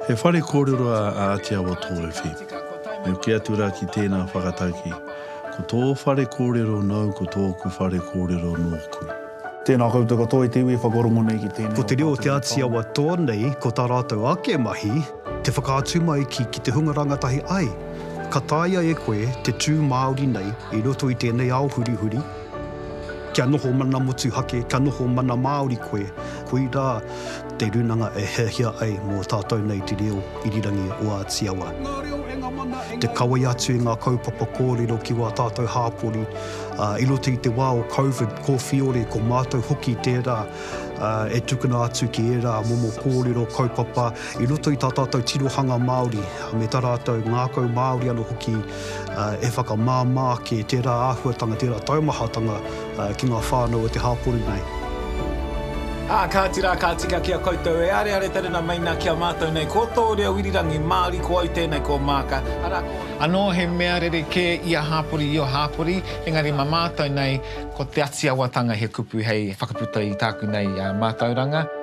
He whare kōrero a Āti Awa Tōwhiwhi. Me hoki atu rā ki tēnā whakatauki, ko tō whare kōrero nāu ko tōku whare kōrero nōku. Tēnā koutou katoa i te iwi e whakarongo nei ki tēnei o tātou e whakarongo. Ko te reo o Te Āti Awa tō nei, ko tā rātou ake mahi, Te whakaatu mai ki ki te hunga rangatahi ai, ka taea e koe te tū Māori nei i roto i tēnei ao hurihuri, kia noho mana motuhake, kia noho mana Māori koe, koirā te runanga e hiahia ai mō tātou nei te reo irirangi o Āti Awa. Te kawea atu i ngā kaupapa kōrero ki wā tātou hāpori i roto i te wā o Covid kōwhiore, ko mātou hoki tērā e tukuna atu ki ērā momo kōrero, kaupapa, I roto i tā tātou tirohanga Māori, me tā rātou ngākau Māori anō hoki, e whakamāmā ake tērā āhuatanga, tērā taumahatanga ki ngā whānau o te hāpori nei. Ā, kāti rā, ka tika ki a koutou e areare te rena mai nā ki a mātou nei, ko tō reo irirangi Māori, ko au tēnei, ko Maaka, arā, ko. Anō he mea rerekē ia hāpori, io hāpori, engari mā mātou nei, ko Te Atiawatanga he kupu hei whakaputa i tāku nei mātauranga.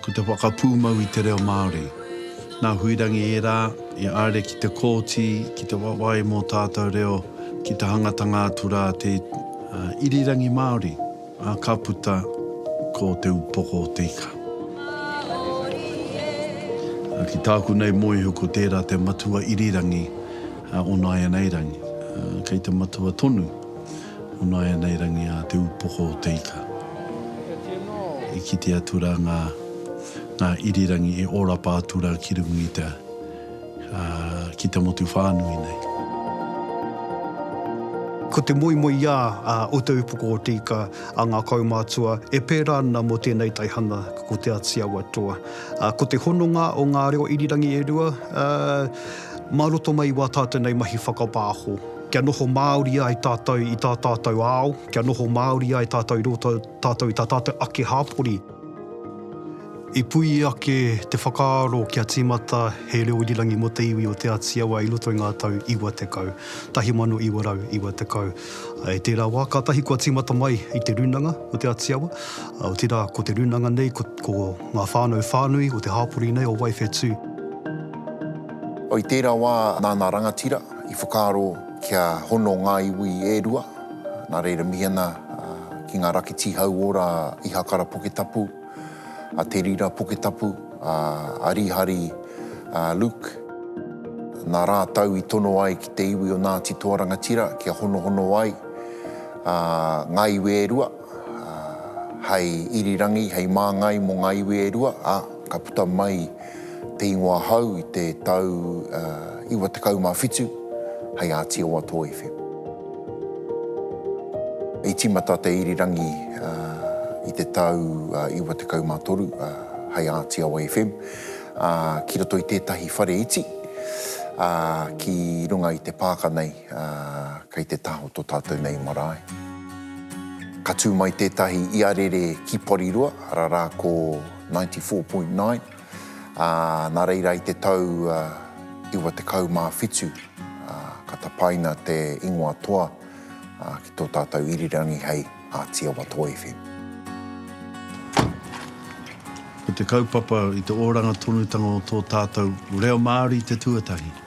Ko te whakapūmau i te reo Māori. Nā Huirangi ērā i aere ki te kōti ki te wawae mō tātau reo ki te hangatanga atu rā te irirangi Māori, ā, ka puta ko Te Upoko o te Ika. Ki tāku nei moehu ko tērā te matua irirangi o nāianei rangi. Kei te matua tonu. Ono ēnei rangi a te upoko o te ika. I kite atu rā ngā irirangi e ōrapa atu rā ki runga i te, ki te motu whānui nei. Ko te moemoeā o te upoko o te ika a ngā kaumātua e pērā ana mō tēnei taihanga ko Te Āti Awa Toa. Ko te hononga o ngā reo irirangi e rua mā roto mai i wā tātou nei mahi whakapāho. Kia noho Māori ai tātou i tā tātou ao, kia noho Māori ai tātou i roto tātou i tā tātou ake hāpori. I puea ake te whakaaro kia tīmata he reo irirangi mō te iwi o Te Āti Awa i roto i ngā tau 90, 1990. I tērā wā, kātahi kua tīmata mai i te rūnanga o Te Āti Awa, otirā ko te rūnanga nei ko ko ngā whānau whānui o te hāpori nei o Wai Whetū. I tērā wā, nā ngā rangatira, I whakaaro kia hono ngā iwi e rua, nā reira mihi ana ki ngā rakitī hauora a Ihakara Puketapu, a Te Rira Puketapu, a Rīhari Luke. Nā rātou i tono ai ki te iwi o Ngāti Toarangatira kia honohono ai ngā iwi e rua. hei irirangi, hei māngai mō ngā iwi e rua, ā, ka puta mai te ingoa hou i te tau 97 hei Ātiowa Toi FM. I tīmata te irirangi i te tau 93 hei Ātiowa FM ki roto i tētahi whare iti ki runga i te pāka nei. Kei te taha o tō tātou nei marae. Ka tū mai tētahi iarere ki Porirua, arā rā ko Ninety Four Point Nine, ā, nā reira i te tau iwa tekau mā whitu ka tapaina te ingoa toa ki tō tātou irirangi hei Ātiawa Toa FM. Ko te kaupapa i te oranga tonutanga o tō tātou reo Māori te tuatahi.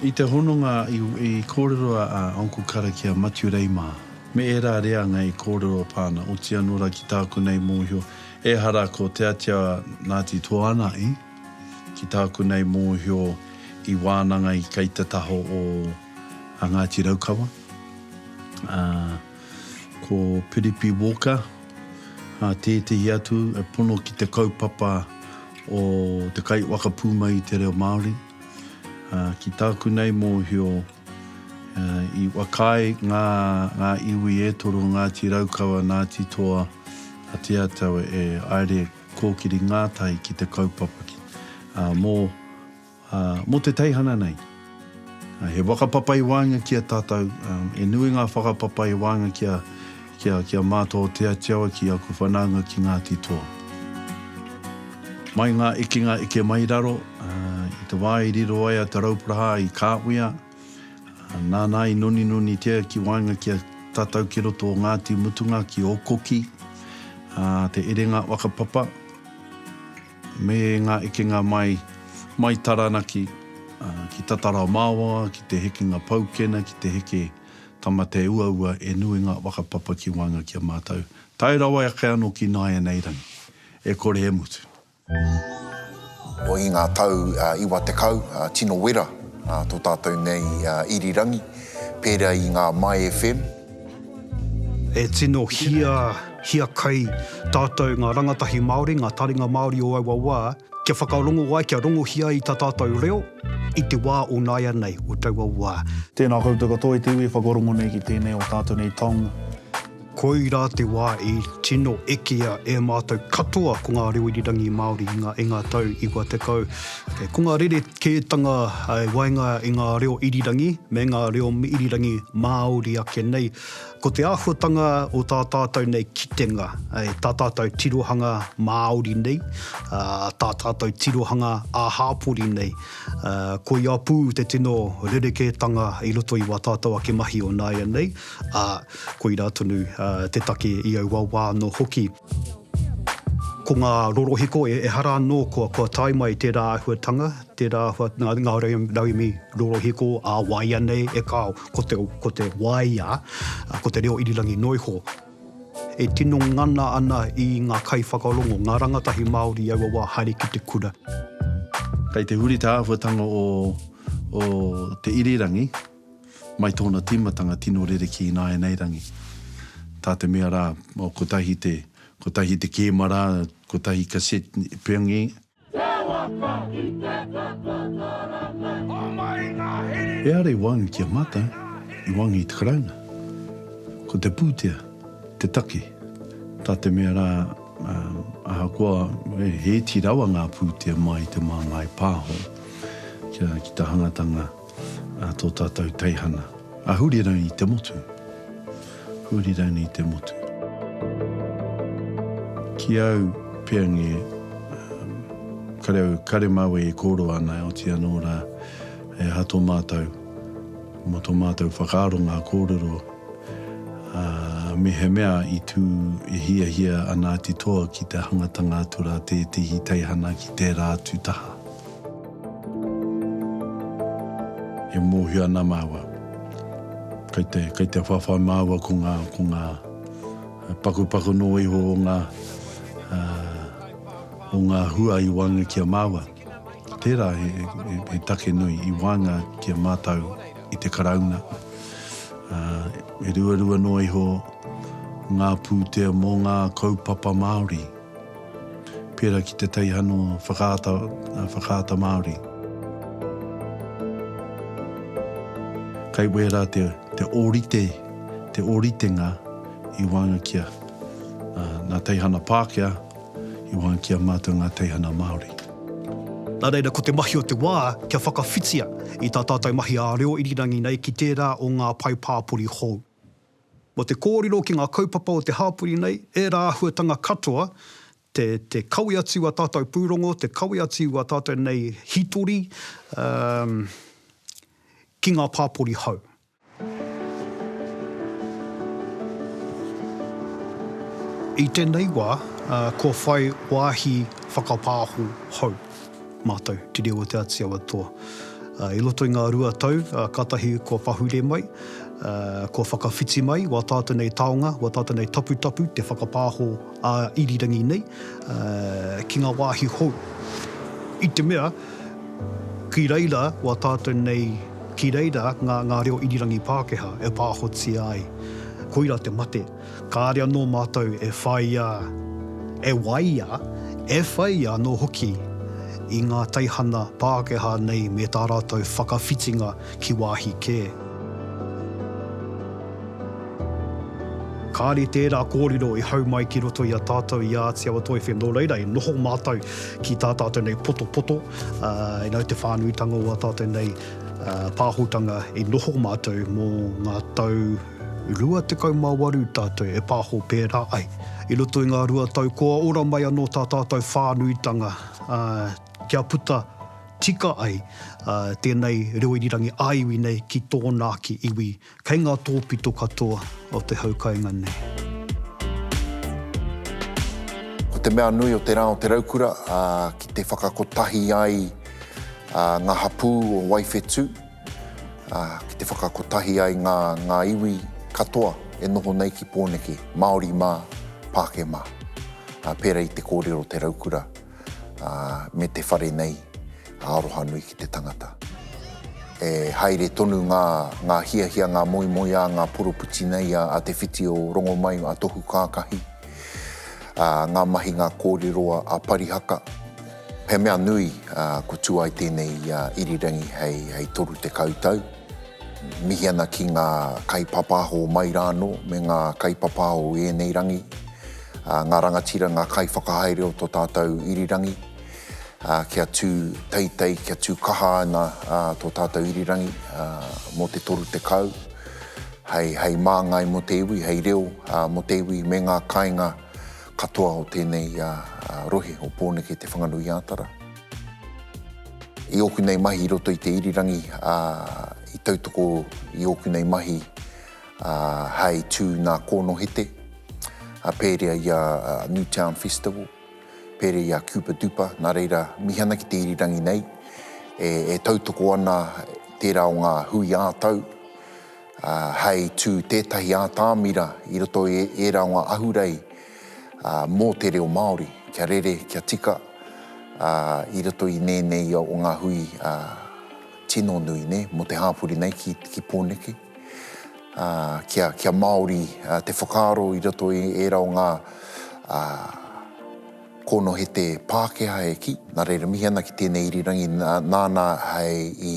I te hononga i kōrero a Uncle Karakia Matiu Rei mā, me ērā reanga i kōrero pā ana, oti anō rā ki tāku nei mōhio, ehara ko Te Atia Ngāti Toanahi, ki tāku nei mōhio i wānanga i kei te taha o a Ngāti Raukawa, ā, ko Piripi Walker, ā, tētehi atu e pono ki te kaupapa o te kai waka pū mai i te reo Māori. Ki tāku nei mōhio, i whakaae ngā, ngā iwi e toru, Ngāti Raukawa, Ngāti Toa, a Te Atau e aere kōkiri ngātahi ki te kaupapa ki, mō, Ā, mō te teihana nei, he whakapapa i waenga ki a tātou, he nui ngā whakapapa i waenga ki a, ki a, ki a Mātua o Te Ati Awa ki aku whanaunga ki Ngāti Toa. Mai ngā ekenga eke mai raro, i te wā i riro ai a Te Rauparaha i Kāwhia, nāna i noninonitia ki waenga ki a tātou ki roto o Ngāti Mutunga ki Ōkoki, ā, te erenga whakapapa. Me ngā ekenga mai, mai Taranaki, ki Tatara Māwa, ki te hekenga Paukena, ki te heke Tamateauaua, e nui ngā whakapapa ki waenga ki a mātou. Tae rawa ake anō ki nāianei rangi. E kore e mutu. I ngā tau iwa tekau, tino wera tō tātou nei irirangi, pērā i ngā My FM, E tino hia, hiakai tātou ngā rangatahi Māori, ngā taringa Māori o aua wā, kia whakarongo ai, kia rongohia ai tā tātou reo i te wā o nāianei, o taua wā. Tēnā koutou katoa i te iwi e whakarongo nei ki tēnei o tātou nei tong. Koirā te wā i tino ekea e mātou katoa ko ngā reo irirangi Māori i ngā tau iwa tekau. He kunga rerekētanga i waenga i ngā reo irirangi me ngā reo irirangi Māori ake nei. Ko te āhuatanga o tā tātou nei kitenga, tā tātou tirohanga Māori nei, tā tātou tirohanga ā-hāpori nei, koia pū te tino rerekētanga i roto i wā tātou ake mahi o nāianei, ā, koirā tonu te take i aua wā anō hoki. Ko ngā rorohiko e ehara anō kua kua tae mai tērā āhuatanga, tērā āhua ngā, ngā rauemi rorohiko ā waia nei e kāo, ko te, ko te waia, ko te reo irirangi noa iho. E tino ngana ana i ngā kaiwhakarongo, ngā rangatahi Māori i aua wā haere ki te kura. Kei te huri te āhuatanga o, o te irirangi. Mai tōna tīmatanga tino rerekē ināianei rangi. Tā te mea rā, oh, kotahi te, kotahi te kēma rā, kotahi cassette peongi. Te waka i te kaka karanga. Homai ngā here. E are i wang ki a mātou, i wang i te Karauna. Ko te pūtea, te take. Tā te mea rā, ah, ahakoa, he iti rawa ngā pūtea mai i te māngai pāho, kia, ki te hangatanga. a tō tātou teihana, a Hurirani te motu, Hurirani te motu. Ki au, Peange, kare au, kare māu e kōrua ana, oti anō rā, he aha tō mātou, mō tō mātou whakaaro ngā kōrero, ā, mehemea i tū e hiahia ana a Te Toa ki te hangatanga atu rā tētehi teihana ki tērā atu taha. E mōhio ana māua, kei te, kei te whawhai māua ko ngā, ko ngā pakupaku noa iho o ngā, o ngā hua i waenga ki a māua. Tērā he, he, he take nui i waenga ki a mātou i te Karauna. E ruarua noa iho ngā pūtea mō ngā kaupapa Māori. pērā ki te teihana whakaata, whakaata Māori. Kei wērā te, te ōrite, te ōritenga i waenga ki a ngā teihana Pākehā, i waenga ki a mātou ngā teihana Māori. Nā reira, ko te mahi o te wā kia whakawhitia i tā tātou mahi ā-reo irirangi nei ki tērā o ngā pae pāpori hou. Mō te kōrero ki ngā kaupapa o te hāpori nei, ērā āhuatanga katoa, te, te kawe atu i wā tātou pūrongo, te kawe atu i wā tātou nei hītori, umm, ki ngā pāpori hou. I tēnei wā, kua whai wāhi whakapāho hou. Mātou, te reo o Te Āti Awa Toa. I roto i ngā rua tau, kātahi kua pahure mai, kua whakawhiti mai wā tātou nei taonga, wā tātou nei taputapu, te whakapāho ā-irirangi nei ki ngā wāhi hou. I te mea, ki reira wā tātou nei, ki reira ngā reo irirangi Pākehā e pāhotia ai, koira te mate. kāre anō mātou e whāia, e waia, e whai anō hoki i ngā teihana Pākehā nei me tā rātou whakawhitinga ki wāhi kē. Kāre tērā kōrero i hau mai ki roto i a tātou i a Te Awa Toi FM, nō reira, e noho mātou ki tā tātou nei potopoto, ā, nau te whānuitanga o ā tātou nei pāhotanga i noho mātou mō ngā tau 28 tātou e pāho pērā ai. I roto i ngā rua tau kua ora mai anō tā tātou whānuitanga kia puta tika ai tēnei reo irirangi ā-iwi nei ki tōna ake iwi kei ngā tōpito katoa o te hau kainga nei. Ko te mea nui o te rā o Te Raukura ki te whakakotahi ai ngā hapū o Waiwhetū, ki te whakakotahi ai ngā, ngā iwi katoa e noho nei ki Pōneke, Māori mā, Pākehā mā. Pērā i te kōrero o te raukura me te whare nei, aroha nui ki te tangata. E haere tonu ngā, ngā hiahia, ngā moemoeā, ngā poropiti nei a, a Te Whiti o Rongomai, a Tohu Kākahi, ngā mahi, ngā kōrero a, a Parihaka, He mea nui kua tū ai tēnei i a Irirangi hei 30 tau. Mihi ana ki ngā kaipāpāho mai rānō me ngā kaipāpāho i ēnei rangi, ngā rangatira, ngā kaiwhakahaere o tō tātou irirangi, kia tū teitei, kia tū kaha ana tō tātou irirangi mō te 30, hei māngai mō te iwi, hei reo mō te iwi me ngā kāinga Katoa o tēnei rohe o Pōneke Te Whanganui-ā-Tara. I ōku nei mahi i roto i te irirangi, i tautoko i ōku nei mahi hei tū nā Kōnohete, pērea i a Newtown Festival, pērea i a Kupa Dupa, nā reira, mihi ana ki te irirangi nei e tautoko ana tērā o ngā hui ā-tau. hei tū tētahi ātamira i roto i ērā o ngā ahurei mō te reo Māori, kia rere, kia tika i roto i nēnei o ngā hui tino nui nei, mō te hāpori nei ki Pōneke. Kia Māori te whakaaro i roto i ērā o ngā kōnohete Pākehā e kī, nā reira mihi ana ki tēnei irirangi nāna hei i.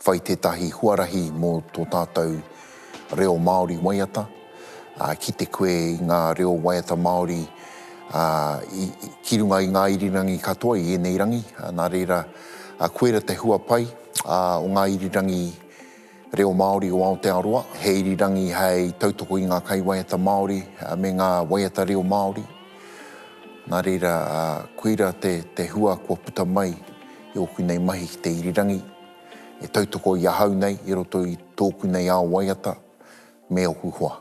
whai tētahi huarahi mō tō tātou reo Māori waiata, ki te koe i ngā reo waiata Māori ki runga i ngā irirangi katoa i ēnei rangi, nā reira, koira te hua pai o ngā irirangi reo Māori o Aotearoa, he irirangi hei tautoko i ngā kaiwaiata Māori me ngā waiata reo Māori. Nā reira, koira te, te hua kua puta mai i ōku nei mahi ki te irirangi, e tautoko i ahau nei i roto i tōku nei ao waiata me ōku hoa.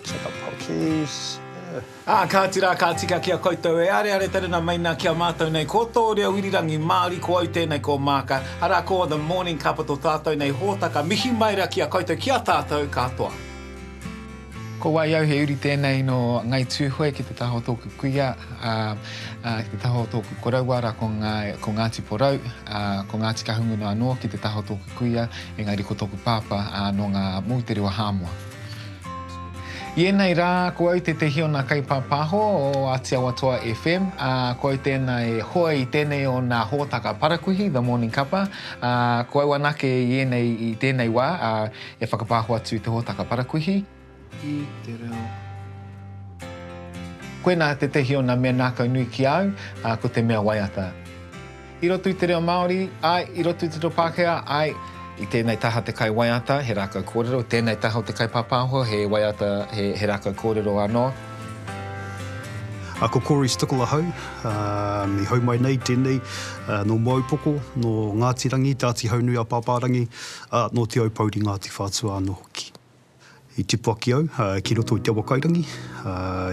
Check up proxies. Ā, kāti rā, ka tika ki a koutou e areare taruna mai nā ki a mātou nei, ko tō reo irirangi Māori, ko au tēnei, ko Maaka, arā, ko The Morning Cup o tō tātou nei hōtaka, mihi mai rā ki a koutou, ki a tātou katoa. Ko wai au, he uri tēnei nō Ngai Tūhoe ki te taha o tōku kuia, ā, ā, ki te taha o tōku koroua rā ko ngā, ko Ngāti Porou, ā, ko Ngāti Kahungunu anō ki te taha o tōku kuia, engari ko tōku pāpā, ā, nō ngā moutere o Hāmoa. I ēnei rā, ko au tētehi o nā kaipāpāho o Āti Awatoa FM, ā, ko au tēnā e hoe i tēnei o nā hōtaka parakuihi, The Morning Cuppa, ā, ko au anake i ēnei, i tēnei wā, ā, e whakapāho atu i te hōtaka parakuihi. I te reo. Koinā tētehi o nā mea nākaunui ki a au, ā, ko te mea waiata. I roto i te reo Māori, āe, i roto i te reo Pākehā, āe. I tēnei taha te kaiwaiata, he rākau kōrero, i tēnei taha o te kaipāpāho, he waiata, he, he rākau kōrero anō. A ko Corey Stickle ahau, um, i hau mai nei tēnei, uh, nō Moaupoko, nō Ngāti Rangi, Te Āti Haunui-a-Pāpārangi, ā, nō Te Aupouri, Ngāti Whātua anō hoki. I tipu ake au ki roto i Te Awakairangi,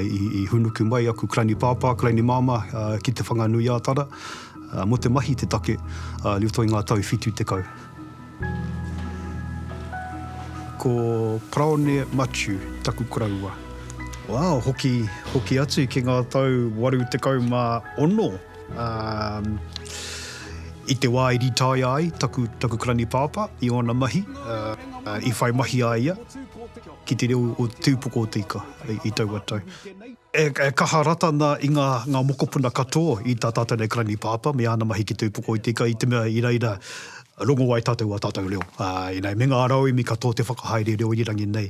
i hūnuku mai aku kalani pāpā, kalani māmā ki Te Whanganui-ā-Tara mō te mahi i te take i roto i ngā tau whitu tekau. Ko Paraone Matiu taku koroua. Wow, hoki atu ki ngā tau waru tekau mā ono. Ā, i te wā i rītaia ai taku, taku karani pāpā i ōna mahi, ā, i whai mahi a ia ki te reo o te tūpoko o te ika i, i taua tau. E, e kaha rata ana i ngā, ngā mokopuna katoa i tā tātou nei karani pāpā me āna mahi ki te tūpoko i te ika i te mea i reira rongo ai tātou ā tātou reo. Ā, ina, me ngā rauemi katoa te whakahaere reo irirangi nei.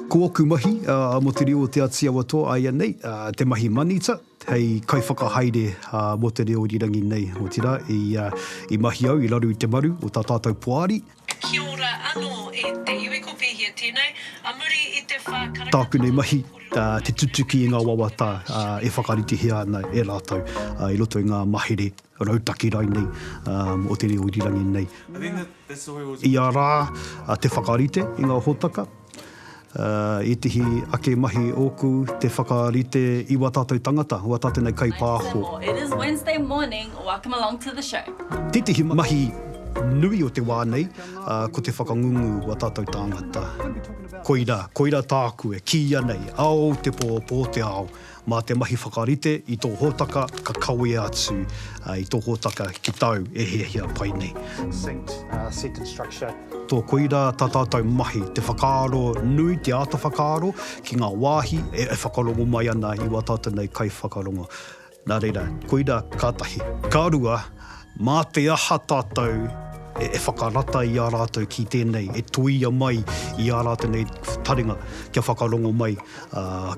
Ko oku mahi, mo te reo o Te Ati Awatoa aianei, te mahi manita, hei kaiwhakahaere mo te reo irirangi nei, otira i mahi au i raro i te maru o ta tatou poari, Kia ora ano e te iwi ko Pehia tenei a muri i te wha karanga Tāku nei mahi, te tutuki i ngā wawata e whakaritihia ana e rātou i roto i ngā mahere rautaki rainei o te reo irirangi nei. I a rā te whakarite i ngā hōtaka. Ētehi ake mahi ōku te whakarite i wā tātou tangata, wā tātou nei kaipāho. Tētehi mahi nui o te wā nei, ko te whakangungu wā tātou tāngata. Koira, koira tāku e kīia nei, ao te pō, pō te ao. Mā te mahi whakarite i tō hōtaka ka kawea atu i tō hōtaka ki tāu e hiahia pai nei. Succinct, set and structure. Tō koirā tā tātou mahi, te whakaaro nui, te āta whakaaro ki ngā wāhi e whakarongo mai ana i wā tātou nei kaiwhakarongo. Nā reira, koirā ka tahi. Ka rua, Mā te aha tātou e whakarata i a rātou ki tēnei, e toia mai i ā rātou nei taringa kia whakarongo mai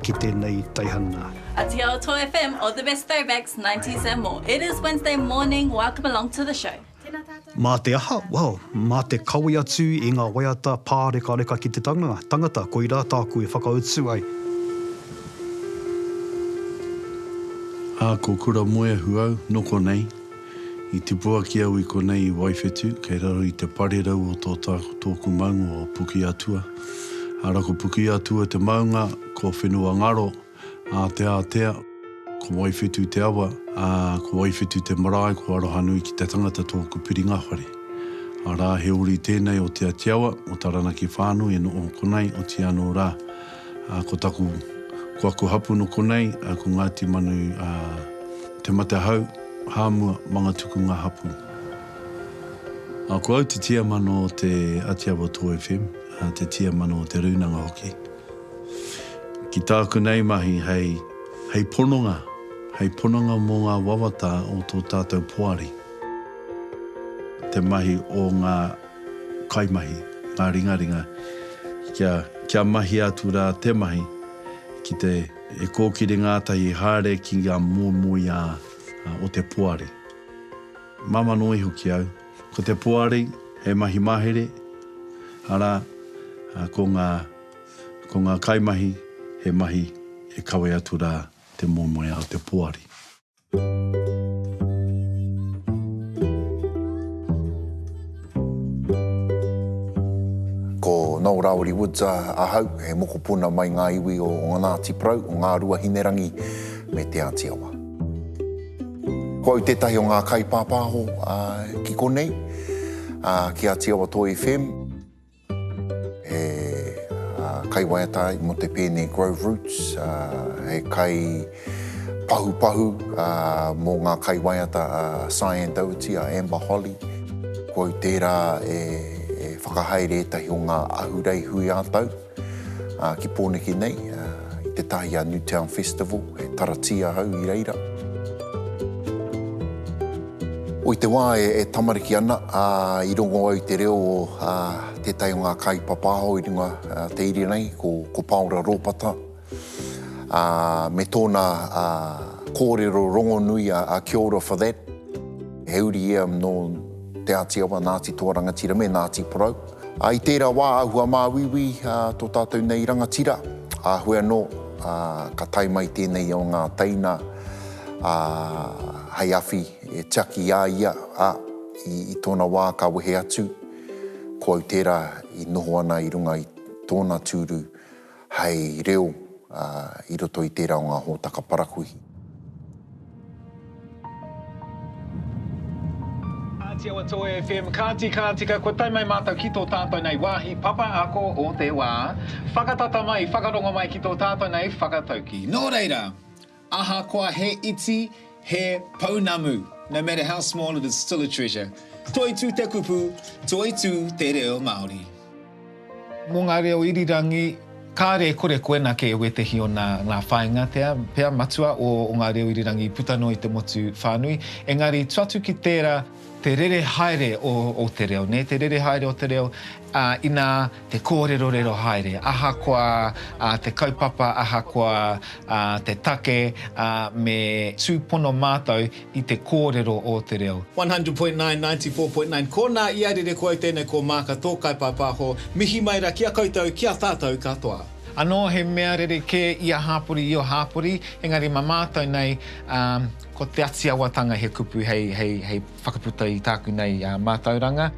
ki tēnei teihana. Ati Aotearoa FM, all the best throwbacks, nineties and more. It is Wednesday morning, welcome along to the show. Tēnā tātou. Mā te aha? Well, mā te kawe atu i ngā waiata pārekareka ki te tangata, koirā tāku e whakautu ai. Ā, ko Kuramoeahu au, noko nei. I tipu ake au i konei i Waiwhetu, kei raro i te parerau o tō tāku tōku maunga o Pukeatua. Ara ko Pukeatua te maunga, ko Whenuangaro, Āteātea, ko Waiwhetu te awa, ā, ko Waiwhetu te marae, ko Arohanui ki te tangata tōku piringa whare. Arā, he uri tēnei o Te Atiawa, o Taranaki whānui, e noho konei, otianō rā, Ko taku, ko aku hapu no konei, ko Ngati Manu a Te Matehau, Hamua, Mangatuku nga hapu. Ko au te tiamano o te Atiawa Toi FM, te tiamano o te Rūnanga hoki. Ki tāku nei mahi hei, hei pononga, hei pononga mo nga wawata o to tatou poari. Te mahi o nga kaimahi, ngā ringaringa, kia, kia mahia atu rā te mahi ki te, e kōkiri ngātahi haere ki ngā moemoeā o te poari. Māmā noa iho ki au, ko te poari he mahi mahere, arā, ko ngā, ko ngā kaimahi he mahi e kawe atu rā te moemoeā o te poari. Ko Noel Rawiri Woods ahau, he mokopuna mai ngā iwi o Ngāti Porou, o Ngāruahinerangi me Te Āti Awa. Ko au tētahi o ngā kaipāpāho ki konei, ki Āti Awa Toi FM. He kaiwaiata ai mō te pēne Grove Roots, he kai pahupahu mō ngā kaiwaiata a Cyan Dougherty, a Amber Holly. Ko au tērā e whakahaere ētahi o ngā ahurei hui ā-tau ki Pōneke nei, i te tahi a Newtown Festival, e taratia au i reira. O i te wā e tamariki ana, i rongo au i te reo o tētahi o ngā kai papāho i runga te iria nei, ko Pāora Rōpata, me tōna kōrero rongonui a Kia ora for that. He uri ia nō Te Āti Awa, Ngāti Toa Rangatira me Ngāti Porou. I tērā wā āhua māuiui tō tātou nei rangatira, āhue anō ka tae mai tēnei o ngā teina, ā, hei awhi e tiaki i a ia, ā, i, i tōna wā ka wehe atu, ko au tērā i noho ana i runga i tōna tūru hei reo, ā, i roto i tērā o ngā hōtaka parakuihi. Ngāti Awa Toi FM, Kāti, ka tika, kua tae mai mātou ki tō tātou nei wāhi papa ako o te wā. Whakatata mai, whakarongo mai ki tō tātou nei whakataukī. Nō reira. Ahakoa he iti, he pounamu, no matter how small it is still a treasure. Toitū te kupu, toitū te reo Māori. Mō ngā reo irirangi, kāre e kore koena kē wētehi o nā ngā whāinga tea, pea matua o ngā reo irirangi puta noa i te motu whānui, engari, tu atu ki tērā, Te rere haere o te reo, nē, te rere haere o te reo, ā, inā te kōrerorero haere, ahakoa te kaupapa, ahakoa te take, ā, me tūpono mātou i te kōrero o te reo. 100.9, 94.9 Ko nā ia rere koe tēnei ko Maaka tō kaipāpāho, mihi mai ra ki a koutou, ki a tātou katoa. Anō he mea rerekē ia hāpori io hāpori, engari ma mātou nei, ā, Ko Te Atiawatanga he kupu hei whakaputa i tāku nei mātauranga.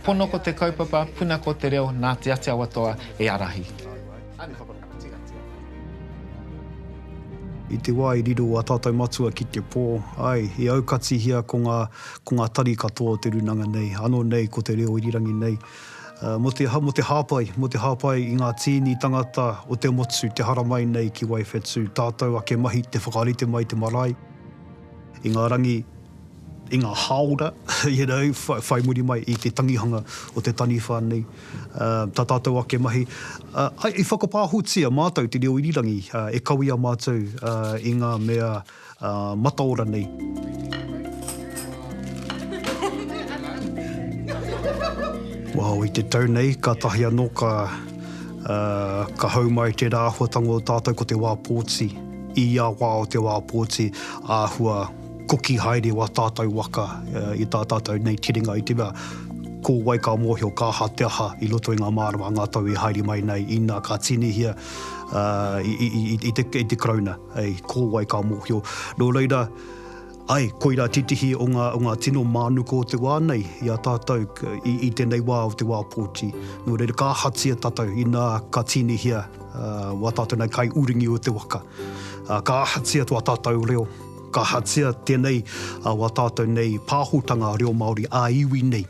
Pono ko te kaupapa, puna ko te reo, nā Te Atiawatoa e ārahi. I te wā i riro a tātou matua ki te pō, āe, i aukatihia ko ngā tari katoa o te rūnanga nei, ānō nei ko Te Reo Irirangi nei. Mō te, mō te hāpai, mō te hāpai i ngā tīni tangata o te motu te haramai nei ki Waiwhetū, tātou ake mahi te whakarite mai te marae i ngā rangi, i ngā hāora, you know, whai, whai muri mai i te tangihanga o te taniwha nei, tā tātou ake mahi. I whakapāhotia mātou te reo irirangi e kawea mātou i ngā mea mataora nei. Wao, i te tau nei, kātahi anō ka, ka hau mai tērā āhuatanga o tātou ko te wā pōti. I ia wā o te wā pōti, āhua koki haere wā tātou waka i tā tātou nei tiringa i te mea, ko wai ka mōhio, ka aha te aha i roto i ngā mārama a ngā tau e haere mai nei, inā ka tīnihia i te Karauna. Hei ko wai ka mōhio. Nō reira, ae, koirā titihi o ngā, o ngā tino mānuka o te wā nei i a tātou i, i tēnei wā o te wā pōti. Nō reira, ka ahatia tātou inā ka tīnihia, ā, wā tātou nei kai uringi o te waka. Ā, ka ahatia tō tātou reo, ka ahatia tēnei, ā, wā tātou nei pāhotanga reo Māori ā-iwi nei.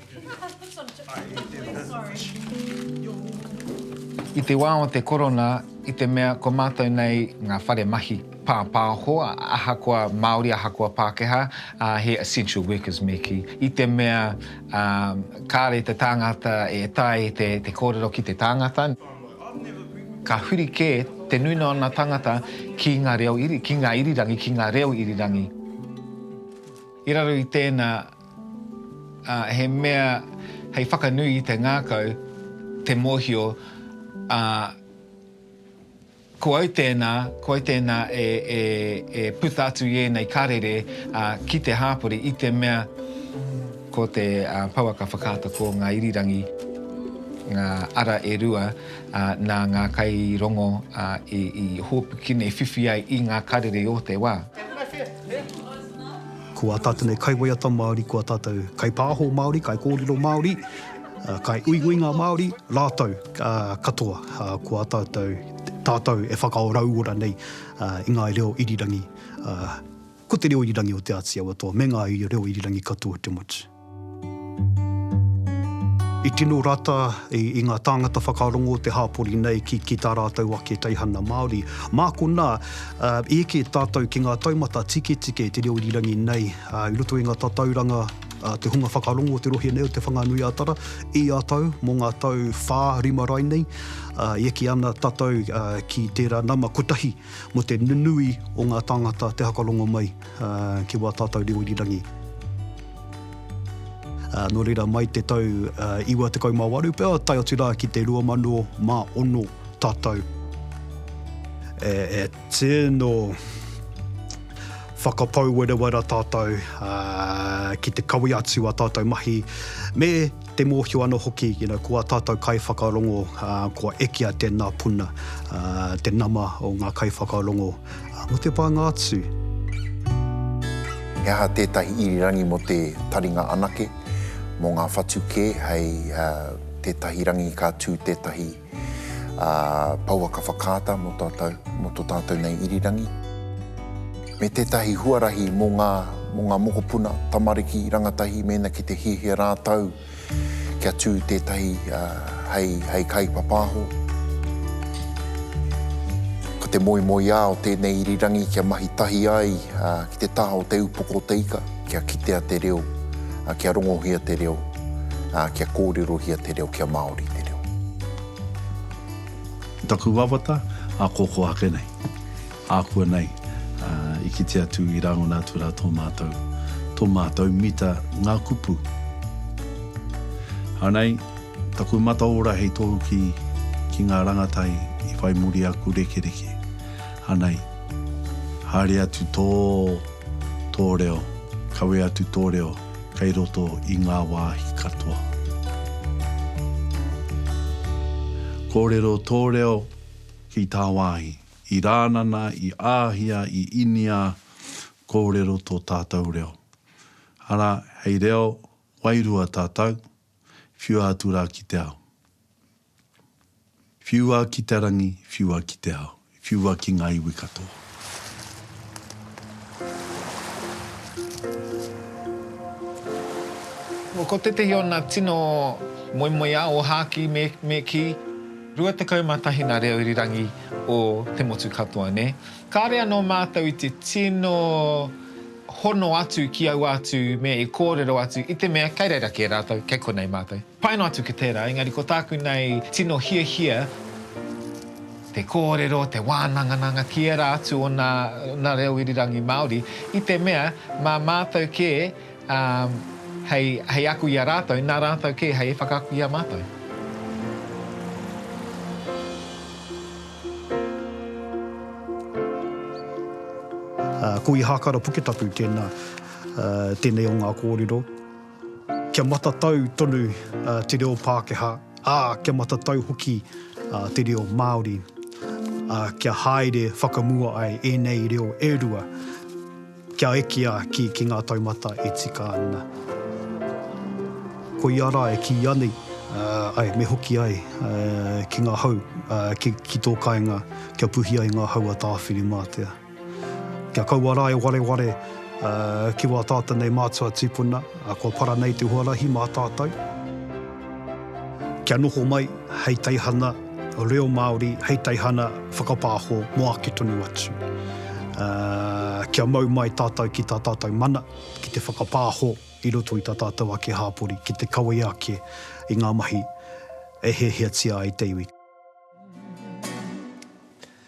I te wā o te korona, i te mea ko mātou nei ngā whare mahi pāpāho, ahakoa Māori, ahakoa Pākehā, he essential workers me kī, i te mea kāre te tāngata e taea e te kōrero ki te tāngata, ka huri kē te nuinga o ngā tāngata ki ngā reo, ki ngā irirangi, ki ngā reo irirangi. I raro i tēnā, Ā, he mea hei whakanui i te ngākau te mōhio, ā, ko au tēnā, ko au tēnā e puta atu i ēnei karere ki te hāpori i te mea ko te pouaka whakaata ko ngā irirangi ngā ara e rua nā ngā kairongo i hōpuki nei, whiwhi ai i ngā karere o te wā. Ko ā tātou nei kaiwaiata Māori, ko ā tātou kaipāho Māori, kaikōrero Māori, kai uiuinga Māori, rātou katoa, ko ā tātou, tātou e whakaorauora nei i ngā reo irirangi, ko te reo irirangi o Te Āti Awa Toa me ngā reo irirangi katoa o te motu. I tino rata i ngā tāngata whakarongo o te hāpori nei ki tā rātou ake teihana Māori. Mā konā, i eke tātou ki ngā taumata tiketike te reo irirangi nei, i roto i ngā tatauranga, te hunga whakarongo o te rohe nei o Te Whanganui-a-Tara, i a tau, mō ngā tau whā, rima rainei, i eke ana tātou ki tērā nama kotahi mō te nunui o ngā tāngata te hakarongo mai. ki wā tātou reo irirangi. Nō reira, mai te tau 98 pea, tae atu rā ki te 2006 tātou e tino whakapau werewera tātou ki te kawe atu a tātou mahi me Te mōhio anō hoki, you know, ko ā tātou kaiwhakarongo, kua ekea tēnā puna, te nama o ngā kaiwhakarongo mō te pānga atu. He aha tētahi irirangi mō te taringa anake, mō ngā whatu kē hei tētahi rangi ka tū tētahi Pouaka whakaata mō tātou, mō tō tātou nei irirangi, me tētahi huarahi mō ngā, mō ngā mokopuna, tamariki, rangatahi mēnā ki te hiahia rātou kia tū tētahi hei, hei kaipapāho. Ko te moemoeā o tēnei irirangi kia mahi tahi ai ki te taha o te upoko o te ika. Kia kitea te reo, kia rongohia te reo, kia kōrerohia te reo, kia Māori te reo. Ko taku wawata, ākōkō ake nei, ākuanei i kite atu, i rāngona atu rā tō mātou, tō mātou mita ngā kupu. Anei taku mataora hei tohu ki, ki ngā rangatai i whai muri aku rekereke. Anei, haere atu tō. Tō reo, kawe atu tō reo kei roto i ngā wāhi katoa. Kōrero tō reo ki tāwāhi. I Rānana, i Āhia, i Inia, kōrero tō tātou reo. Arā, hei reo wairua tātou, whiua atu rā ki te ao. Whiua ki te rangi, whiua ki te ao, whiua ki ngā iwi katoa. Ko tētehi o nā tino moemoeā o Hāki me, me kī, 21 nā reo irirangi o te motu katoa, nē. Kāre anō mātou i te tino hono atu ki aua atu mea i kōrero atu i te mea kei reira kē rātou, kei konei mātou. Pai noa atu ki tērā, engari ko tāku nei tino hiahia te kōrero, te wānangananga ki ērā atu o nā reo irirangi Māori, i te mea mā mātou kē hei aku i a rātou, nā rātou kē hei whakaako i a mātou. Ko Ihākara Puketapu tēnā, tēnei o ngā kōrero. Kia matatau tonu te reo Pākehā, ā, kia matatau hoki te reo Māori, ā, kia haere whakamua ai ēnei reo e rua kia ekea ki ngā taumata e tika ana. Koia rā e kīia nei, āe, me hoki ai ki ngā hau, ki tō kāinga kia puhi ai ngā hau a Tāwhirimātea. Kia kaua rā e wareware ki wā tātou nei mātua tīpuna, kua para nei te huarahi mā tātou. Kia noho mai hei teihana reo Māori, hei teihana whakapāho mō ake tonu atu. Kia mau mai tātou ki tā tātou mana, ki te whakapāho i roto i tā tātou ake hāpori, ki te kawea ake i ngā mahi e hiahiatia ai te iwi.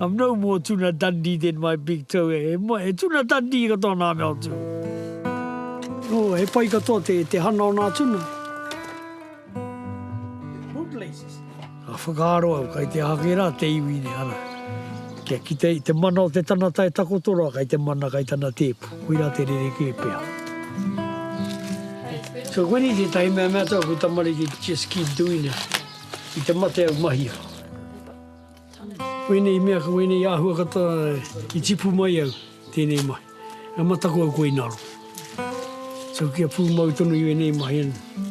I'm no more Tuna Dundee than my big toe e moe, he Tuna Dundee katoa nā mea o tū. Oh, he pai katoa te, te hana o nā tuna. Ka whakaaro au, kai te ake rā te iwi nei, ara. Kia kite i te mana o te tanata e takoto rā, kai te mana, kai tana tēpu. Koirā te rerekē pea. So koinei tētahi mea mea tau aku tamariki, just keep doing it. I te mate au, mahia. Wēnei mea ka wēnei āhua kata i tipu mai au tēnei mahi. Ka mataku au koe i ngaro. So kia pūmau tonu i wēnei mahi anō.